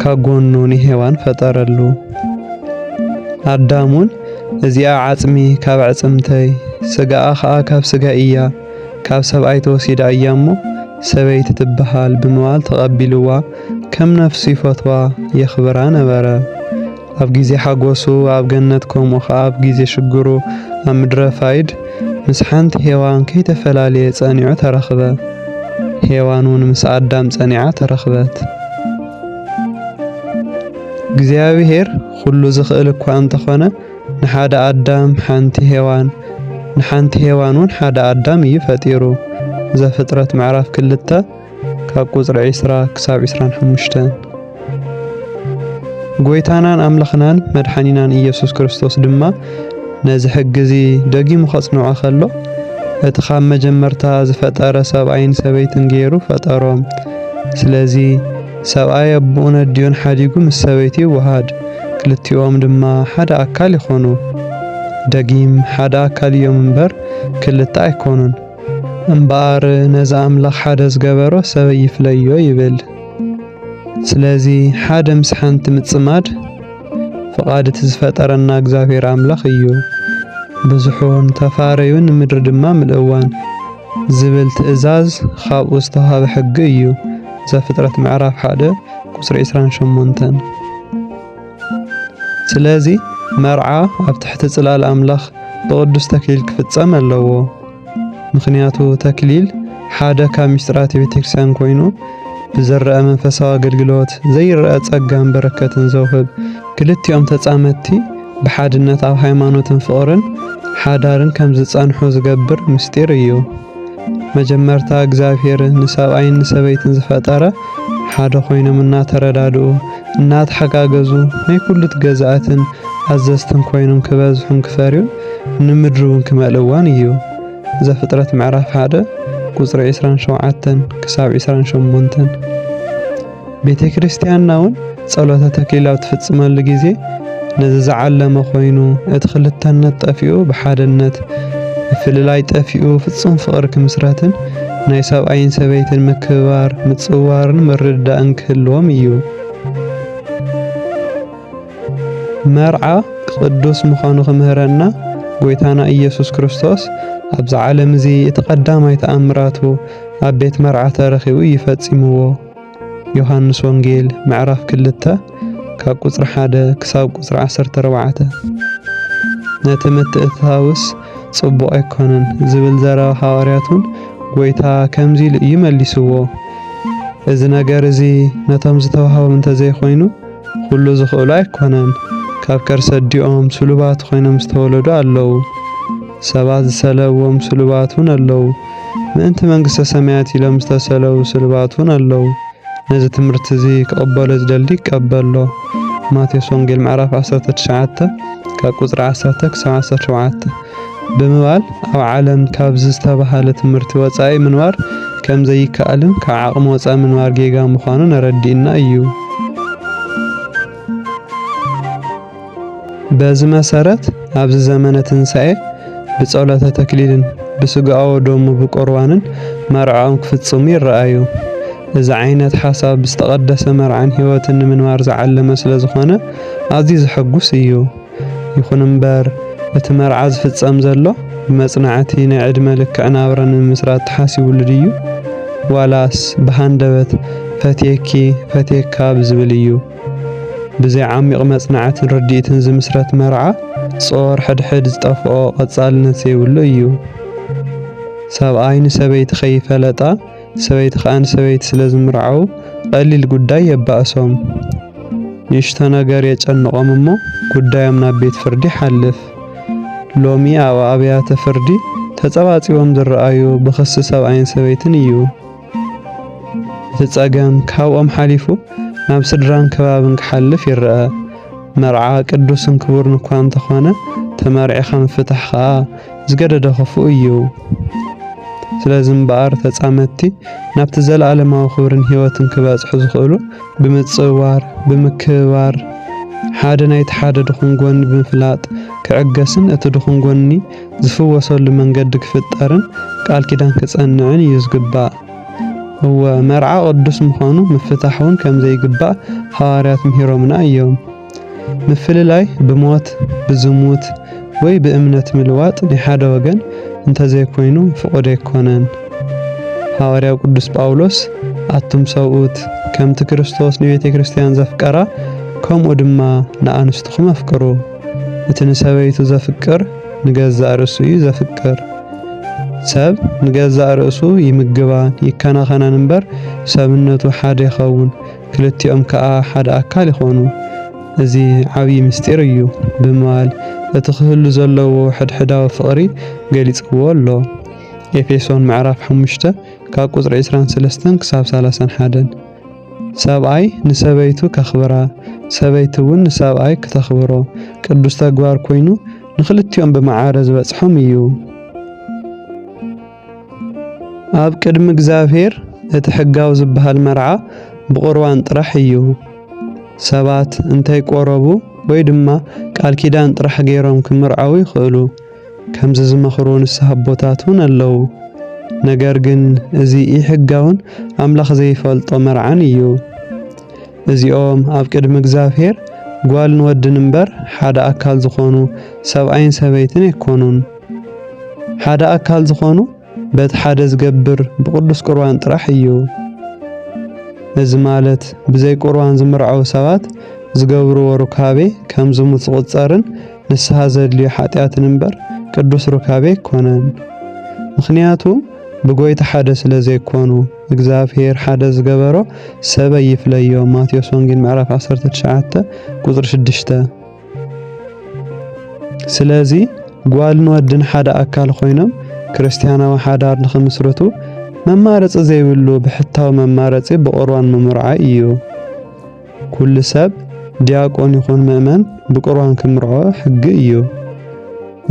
ካጎኑ ንሔዋን ፈጠረሉ። ኣዳምውን እዚኣ ዓጽሚ ካብ ኣዕጽምተይ፣ ስጋኣ ኸኣ ካብ ስጋይ እያ፣ ካብ ሰብኣይ ተወሲዳ እያ እሞ፣ ሰበይቲ ትበሃል ብምባል ተቐቢልዋ ከም ነፍሱ ይፈትዋ የኽብራ ነበረ። ኣብ ግዜ ሓጎሱ ኣብ ገነት ከምኡ ኸኣ ኣብ ግዜ ሽግሩ ኣብ ምድረ ፋይድ ምስ ሓንቲ ሄዋን ከይተፈላለየ ጸኒዑ ተረኽበ። ሄዋን እውን ምስ ኣዳም ጸኒዓ ተረኽበት። እግዚኣብሔር ኩሉ ዝኽእል እኳ እንተኾነ ንሓደ ኣዳም ሓንቲ ሄዋን ንሓንቲ ሄዋን እውን ሓደ ኣዳም እዩ ፈጢሩ። ዘፍጥረት ምዕራፍ ክልተ ካብ ቁጽሪ ዕስራ ክሳብ ዕስራን ሓሙሽተን ጎይታናን ኣምላኽናን መድሓኒናን ኢየሱስ ክርስቶስ ድማ ነዚ ሕጊ እዚ ደጊሙ ከጽንዖ ከሎ እቲ ካብ መጀመርታ ዝፈጠረ ሰብኣይን ሰበይትን ገይሩ ፈጠሮም። ስለዚ ሰብኣይ ኣቦኡን ኣዲኡን ሓዲጉ ምስ ሰበይቲ ይወሃድ፣ ክልቲኦም ድማ ሓደ ኣካል ይኾኑ። ደጊም ሓደ ኣካል እዮም እምበር ክልተ ኣይኮኑን። እምበኣር ነዚ ኣምላኽ ሓደ ዝገበሮ ሰብ ይፍለዮ ይብል። ስለዚ ሓደ ምስ ሓንቲ ምጽማድ ፍቓድ እቲ ዝፈጠረና እግዚኣብሔር ኣምላኽ እዩ። ብዙሑን ተፋረዩን ምድሪ ድማ ምልእዋን ዝብል ትእዛዝ ካብኡ ዝተዋህበ ሕጊ እዩ። ዘፍጥረት ምዕራፍ ሓደ ቁጽሪ 28 ስለዚ መርዓ ኣብ ትሕቲ ጽላል ኣምላኽ ብቕዱስ ተክሊል ክፍጸም ኣለዎ። ምኽንያቱ ተክሊል ሓደ ካብ ምስጢራት ቤተክርስቲያን ኮይኑ ብዝረአ መንፈሳዊ ኣገልግሎት ዘይረአ ጸጋን በረከትን ዘውህብ ክልቲኦም ተጻመድቲ ብሓድነት ኣብ ሃይማኖትን ፍቕርን ሓዳርን ከም ዝጸንሑ ዝገብር ምስጢር እዩ። መጀመርታ እግዚኣብሔር ንሰብኣይን ንሰበይትን ዝፈጠረ ሓደ ኮይኖም እናተረዳድኡ እናተሓጋገዙ ናይ ኩሉት ገዛእትን ኣዘዝትን ኮይኖም ክበዝሑን ክፈርዩን ንምድሪ እውን ክመልእዋን እዩ። ዘፍጥረት ምዕራፍ ሓደ ቁፅሪ ዕስራን ሸውዓተን ክሳብ ዕስራን ሸሞንተን ቤተ ክርስቲያንና እውን ጸሎተ ተክሊል ኣብ ትፍጽመሉ ግዜ ነዚ ዝዓለመ ኮይኑ እቲ ክልተነት ጠፊኡ ብሓደነት ምፍልላይ ጠፊኡ ፍጹም ፍቕሪ ክምስረትን ናይ ሰብኣይን ሰበይትን ምክብባር ምጽዋርን ምርድዳእን ክህልዎም እዩ። መርዓ ቅዱስ ምዃኑ ክምህረና ጐይታና ኢየሱስ ክርስቶስ ኣብዚ ዓለም እዚ እቲ ቀዳማይ ተኣምራቱ ኣብ ቤት መርዓ ተረኺቡ እዩ ፈጺምዎ። ዮሃንስ ወንጌል ምዕራፍ ክልተ ካብ ቁጽሪ ሓደ ክሳብ ቁጽሪ ዓሰርተ ኣርባዕተ ነቲ ምትእትታውስ ጽቡቕ ኣይኮነን ዝብል ዘረባ ሃዋርያቱን ጎይታ ከምዚ ኢሉ እዩ መሊስዎ እዚ ነገር እዚ ነቶም ዝተዋህቦም እንተዘይኮይኑ ኩሉ ዝኽእሉ ኣይኮነን ካብ ከርሰ ዲኦም ስሉባት ኮይኖም ዝተወለዱ ኣለዉ ሰባት ዝሰለዎም ስሉባት እውን ኣለዉ ምእንቲ መንግስተ ሰማያት ኢሎም ዝተሰለዉ ስሉባት እውን ኣለዉ። ነዚ ትምህርቲ እዚ ክቕበሎ ዝደሊ ይቀበሎ። ማቴዎስ ወንጌል ምዕራፍ ዓሰርተ ትሽዓተ ካብ ቁጽሪ ዓሰርተ ክሳብ ዓሰርተ ሸውዓተ ብምባል ኣብ ዓለም ካብዚ ዝተባህለ ትምህርቲ ወጻኢ ምንባር ከም ዘይከኣልን ካብ ዓቕሚ ወጻኢ ምንባር ጌጋ ምዃኑን ኣረዲኡና ኢዩ። በዚ መሰረት ኣብዚ ዘመነ ትንሣኤ ብጸሎተ ተክሊልን ብስጋኦ ደሙ ብቁርባንን መርዓኦም ክፍጽሙ ይረኣዩ። እዚ ዓይነት ሓሳብ ብዝተቐደሰ መርዓን ሕይወትን ንምንባር ዝዓለመ ስለ ዝኾነ ኣዝዩ ዘሐጉስ እዩ። ይኹን እምበር እቲ መርዓ ዝፍጸም ዘሎ ብመጽናዕቲ ናይ ዕድመ ልክዕ ናብራ ንምምስራት ተሓሲቡሉ ድዩ? ዋላስ ብሃንደበት ፈትየኪ ፈትየካ ብዝብል እዩ? ብዘይ ዓሚቕ መጽናዕትን ርድኢትን ዝምስረት መርዓ ጾር ሕድሕድ ዝጠፍኦ ቐጻልነት ዘይብሉ እዩ። ሰብኣይ ንሰበይቲ ከይፈለጣ ሰበይቲ ከኣ ንሰበይቲ ስለ ዝምርዓዉ ቐሊል ጉዳይ የባእሶም። ንእሽቶ ነገር የጨንቖም እሞ ጉዳዮም ናብ ቤት ፍርዲ ይሓልፍ። ሎሚ ኣብ ኣብያተ ፍርዲ ተጸባጺቦም ዝረኣዩ ብኽሲ ሰብኣይን ሰበይትን እዩ። እቲ ጸገም ካብኦም ሓሊፉ ናብ ስድራን ከባብን ክሓልፍ ይረኣ። መርዓ ቅዱስን ክቡርን እኳ እንተኾነ ተመርዒኻ ምፍታሕ ከኣ ዝገደደ ክፉእ እዩ። ስለዚ እምበኣር ተጻመድቲ ናብቲ ዘለኣለማዊ ክብርን ህይወትን ክበጽሑ ዝኽእሉ ብምጽዋር፣ ብምክብባር፣ ሓደ ናይቲ ሓደ ድኹም ጎኒ ብምፍላጥ ክዕገስን እቲ ድኹም ጎኒ ዝፍወሰሉ መንገዲ ክፍጠርን ቃል ኪዳን ክጸንዕን እዩ ዝግባእ። እወ፣ መርዓ ቅዱስ ምዃኑ ምፍታሕ እውን ከም ዘይግባእ ሃዋርያት ምሂሮምና እዮም። ምፍልላይ ብሞት፣ ብዝሙት፣ ወይ ብእምነት ምልዋጥ ናይ ሓደ ወገን እንተ ዘይኮይኑ ፍቑድ ኣይኮነን። ሃዋርያው ቅዱስ ጳውሎስ ኣቱም ሰብኡት፣ ከምቲ ክርስቶስ ንቤተ ክርስቲያን ዘፍቀራ፣ ከምኡ ድማ ንኣንስትኹም ኣፍቅሩ። እቲ ንሰበይቱ ዘፍቅር ንገዛእ ርእሱ እዩ ዘፍቅር። ሰብ ንገዛእ ርእሱ ይምግባን ይከናኸናን እምበር ሰብነቱ ሓደ ይኸውን፣ ክልቲኦም ከኣ ሓደ ኣካል ይኾኑ። እዚ ዓብዪ ምስጢር እዩ ብምባል እቲ ክህሉ ዘለዎ ሕድሕዳዊ ፍቕሪ ገሊጽዎ ኣሎ። ኤፌሶን ምዕራፍ ሓሙሽተ ካብ ቁጽሪ ዕስራን ሰለስተን ክሳብ ሰላሳን ሓደን። ሰብኣይ ንሰበይቱ ከኽብራ፣ ሰበይቲ እውን ንሰብኣይ ክተኽብሮ ቅዱስ ተግባር ኮይኑ ንክልቲኦም ብመዓረ ዝበጽሖም እዩ። ኣብ ቅድሚ እግዚኣብሔር እቲ ሕጋዊ ዝበሃል መርዓ ብቑርባን ጥራሕ እዩ። ሰባት እንተይቆረቡ ወይ ድማ ቃል ኪዳን ጥራሕ ገይሮም ክምርዓዉ ይኽእሉ። ከምዚ ዝመኽሩ ንስሓ ኣቦታት እውን ኣለዉ። ነገር ግን እዚ ኢሕጋውን ኣምላኽ ዘይፈልጦ መርዓን እዩ። እዚኦም ኣብ ቅድሚ እግዚኣብሔር ጓልን ወድን እምበር ሓደ ኣካል ዝኾኑ ሰብኣይን ሰበይትን ኣይኮኑን። ሓደ ኣካል ዝኾኑ በቲ ሓደ ዝገብር ብቅዱስ ቁርባን ጥራሕ እዩ። እዚ ማለት ብዘይ ቁርባን ዝምርዓው ሰባት ዝገብርዎ ሩካቤ ከም ዝሙት ዝቁጸርን ንስሓ ዘድልዮ ሓጢኣትን እምበር ቅዱስ ሩካቤ ኣይኮነን። ምኽንያቱ ብጎይታ ሓደ ስለ ዘይኮኑ እግዚኣብሔር ሓደ ዝገበሮ ሰብ ኣይፍለዮ ማቴዎስ ወንጌል ምዕራፍ 19 ቁጽሪ 6 ስለዚ ጓልን ወድን ሓደ ኣካል ኮይኖም ክርስትያናዊ ሓዳር ንኽምስርቱ መማረፂ ዘይብሉ ብሕታዊ መማረፂ ብቑርባን ምምርዓይ እዩ። ኩሉ ሰብ ዲያቆን ይኹን ምእመን ብቁርባን ክምርዖ ሕጊ እዩ።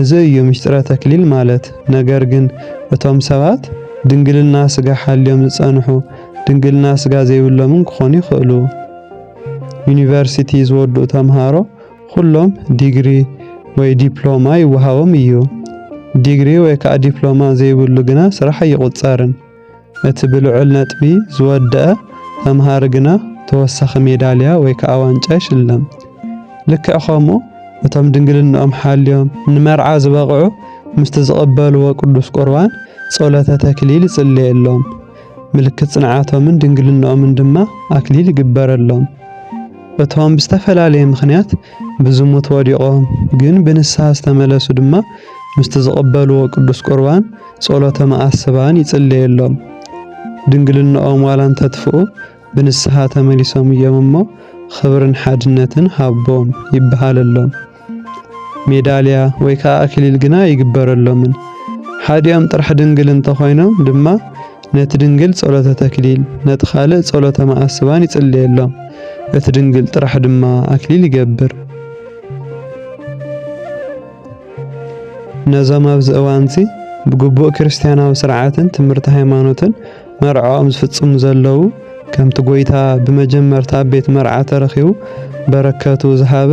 እዚ እዩ ምስጢረ ተክሊል ማለት። ነገር ግን እቶም ሰባት ድንግልና ስጋ ሓልዮም ዝጸንሑ ድንግልና ስጋ ዘይብሎምን ክኾኑ ይኽእሉ። ዩኒቨርሲቲ ዝወድኡ ተምሃሮ ኩሎም ዲግሪ ወይ ዲፕሎማ ይወሃቦም እዩ። ዲግሪ ወይ ከዓ ዲፕሎማ ዘይብሉ ግና ስራሕ ኣይቑጸርን። እቲ ብልዑል ነጥቢ ዝወደኣ ተምሃሪ ግና ተወሳኺ ሜዳልያ ወይ ከዓ ዋንጫ ይሽለም። ልክዕ ከምኡ እቶም ድንግልንኦም ሓልዮም ንመርዓ ዝበቕዑ ምስቲ ዝቕበልዎ ቅዱስ ቁርባን ጸሎተ ተክሊል ይጽለየሎም፣ ምልክት ጽንዓቶምን ድንግልንኦምን ድማ ኣክሊል ይግበረሎም። እቶም ብዝተፈላለየ ምኽንያት ብዝሙት ወዲቖም ግን ብንስሓ ዝተመለሱ ድማ ምስቲ ዝቕበልዎ ቅዱስ ቁርባን ጸሎተ መኣስባን ይጽለየሎም። ድንግልናኦም ዋላ እንተትፍኡ ብንስሓ ተመሊሶም እዮም እሞ ኽብርን ሓድነትን ሃቦም ይበሃለሎም። ሜዳልያ ወይ ከኣ ኣክሊል ግና ኣይግበረሎምን። ሓዲኦም ጥራሕ ድንግል እንተኾይኖም ድማ ነቲ ድንግል ጸሎተ ተክሊል ነቲ ካልእ ጸሎተ መኣስባን ይጽለየሎም። እቲ ድንግል ጥራሕ ድማ ኣክሊል ይገብር። ነዞም ኣብዚ እዋንዚ ብግቡእ ክርስትያናዊ ስርዓትን ትምህርቲ ሃይማኖትን መርዕኦም ዝፍጽሙ ዘለዉ ከምቲ ጐይታ ብመጀመርታ ኣብ ቤት መርዓ ተረኺቡ በረከቱ ዝሃበ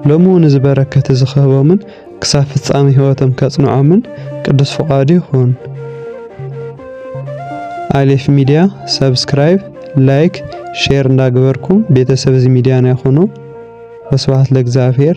ሎሚ እውን እዚ በረከት እዚ ክህቦምን ክሳብ ፍጻሜ ሕይወቶም ከጽንዖምን ቅዱስ ፍቓዱ ይኹን። ኣሌፍ ሚዲያ ሰብስክራይብ፣ ላይክ፣ ሼር እንዳገበርኩም ቤተሰብ እዚ ሚዲያና ይኹኑ። ወስብሐት ለእግዚኣብሔር።